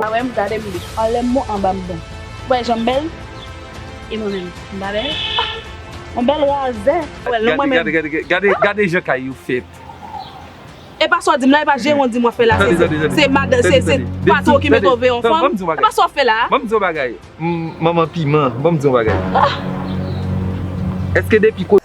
Pa wèm gade m li anlèm mou anba m bon ou wè janm bèl e mwen menm m pa bèl ah on bèl razè ou wèl non mwen menm. Gade gade gade gade jan kay yo fèt. Epa sa w di m la epa jeron di m wap fè la se se madan se se patron ki mete w veye yon fanm epa sa w fè la a. Banm di yon bagay manman piman banm di yon bagay èske depi kote.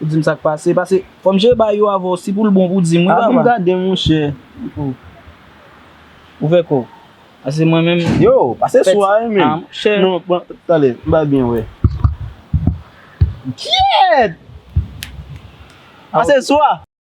Ou dim sak pase pase fòm je bay yo avèw si poul bon pou dim wi papa. Aprann gadem monchè ou ouvè kòw pase mwen menm yo pase sou a wi menm non pran tande m pa byen wè kyèèt pase sou a.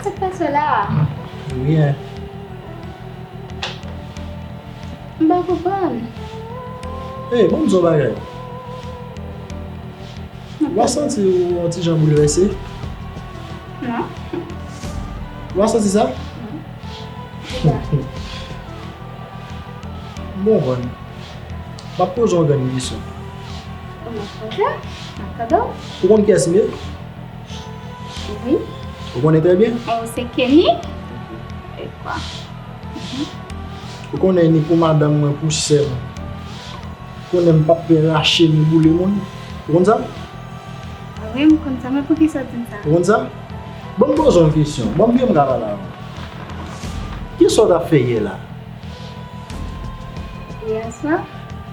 Sak pase la? Anyen. M pa konprann. Ey, banm di yon bagay. Ou pa santi ou yon ti jan boulvèse? Non. Ou pa santi sa? Non. M pa konprann. M ap poze yon grenn kesyon. Ou konn kiyès m ye? Wi. Ou konnen trè byen? Ou se Kenny? E kwa? Ou konnen ni pou madanm mwen, pou sè mwen. Ou konnen m pap pe rache ni boule moun. Ou konn sa? Wi, m konn sa. Men pou ki sa ou di m sa? Ou konn sa? Bon m poze w yon kesyon. Bon m byen m ka pale avè w. Ki sa ou t ap fè yè la?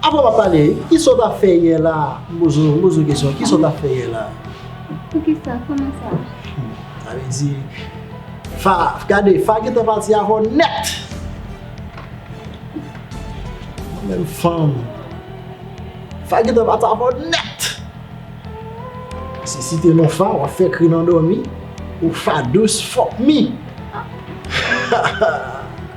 Apre w ap pale, ki sa w t ap fè yè la? M poze w kesyon, ki sa w t ap fè yè la? Poukisa? Kouman sa? Sa vle di, Fa, gade, Fa gentan pati avè w nèt! Mwen menm fanm, Fa gentan pati avè w nèt! Se site non Fa, w ap fè kri nan dòmi, ou Fa dous, fuck me!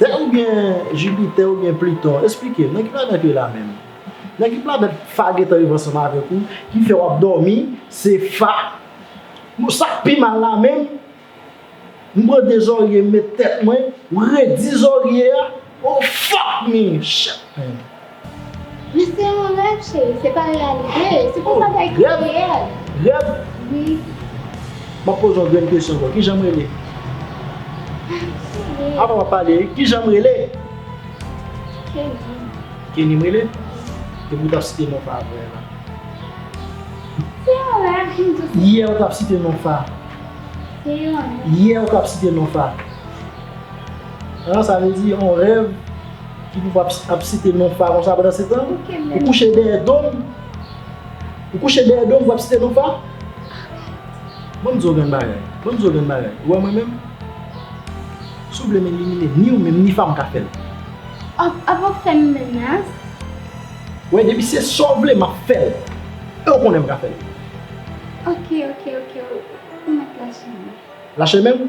Tè ou byen Jupiter ou byen Pluton? Esplikem, nan ki planèt yo la menm? Nan ki planèt Fa gentan viv ansanm avèk ou ki fè wap dòmi se Fa? Bon sak pi mal la menm? M pran 2 zorye m met tèt mwen, m redi zorye a, oh fuck me! Shit man! Wi se yon rèv cheri se pa reyalite se pou bagay ki reyèl. Rèv? Wi. M ap poze yon grenn kesyon ankò kijan m rele? Cheri. Apa m ap pale wi kijan m rele? Kenny. Kenny m rele? Depi ou t ap site non Fa a vre la. Se yon rèv ki m di. Yè ou t ap site non Fa. Se yon rèv. Yè ou t ap site non Fa. An sa vle di yon rèv. ki pou pap ap site non fa konsa pandan se tan ou kouche dèyè dom ou kouche dèyè dom pou ap site non fa banm di w yon bagay banm di w yon bagay ou wè mwen menm si w vle m elimine ni w menm ni fa m ka fè l ap ap fè m menas wè depi se sa w vle map fè l e w konnen m ka fè l ok ok ok ou mèt lache men lache men m.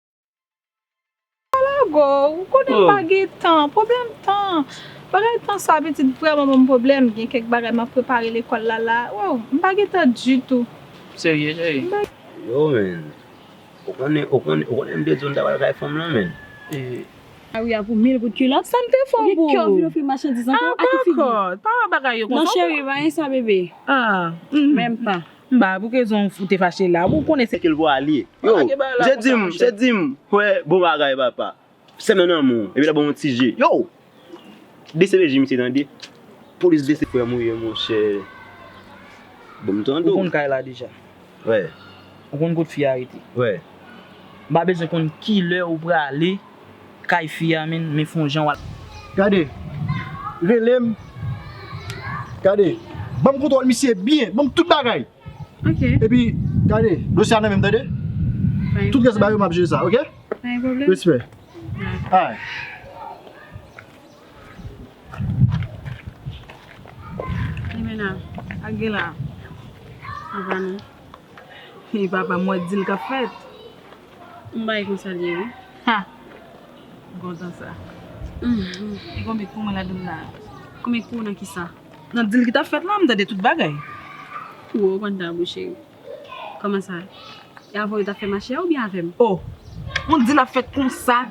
Pa lago, ou konnen m pa gen tan, pwoblèm tan. Bagay tan sa pitit vrèman banm pwoblèm, gen kèk bagay map prepare lekòl la la, wè w, m pa gen tan ditou. Serye cheri? Yo menn, ou konnen, ou konnen, ou konnen m te di w m ta pral kay fanm lan menn. Ee. Ari a pou mil goud kilòt. Sa m te fè w pou ou? Ou gen kè w vin ofri m machandiz ankò? A ki figi? Dakò, pa wè bagay yo konsa w pran. Non cheri, m pa gen sa bebe. Ah, menm pa. Mba pou kezon ou te fache la ou konnen se. Kel pou ale. Yo je dim je dim hwe bon bagay papa semen nan moun epi la banm ti je yo dcpj misye tande polis dcpj. Frem ou ye monche banm tande ou. Ou konn kay la deja. Ou konn kot fi a rete. Mpa bezwen konn kilè ou prale. Kay fi a min me fon jan wal. Gade relem gade banm kontrol misye byen banm tout bagay ok epi gade dosye a nan menm tande tout res bagay yo map jere sa ok respè alright. Yon bagay konsa l ye wi. Ha! Bon jan sa. Li konbyen k pou mwen ladann la a? Konbyen k pou ou nan kisa? Nan dil ki t ap fèt la, m tande tout bagay. Pou ou konn ta bon cheri. Kòman sa? E avè w yo t ap fè mache a oubyen avè m? O! On dil ap fèt konsa,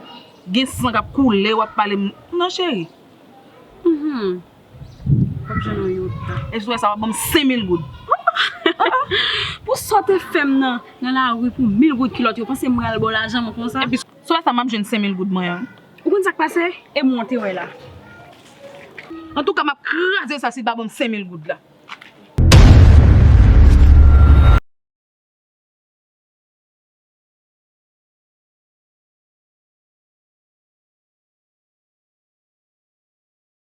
gen san k ap koule, w ap pale m. Non cheri. Hum hum. Wap jwenn yon yota. Epi sou wè sa wap banm 5000 goud. Pou sa w te fè m nan lari pou 1000 goud kilòt yo panse m pral ba w lajan mwen konsa. Epi sou wè sa map jwenn 5000 goud mwen an. Ou konn sak pase e mwen te wè la. Antouka map kraze sa si l pa banm 5000 goud la.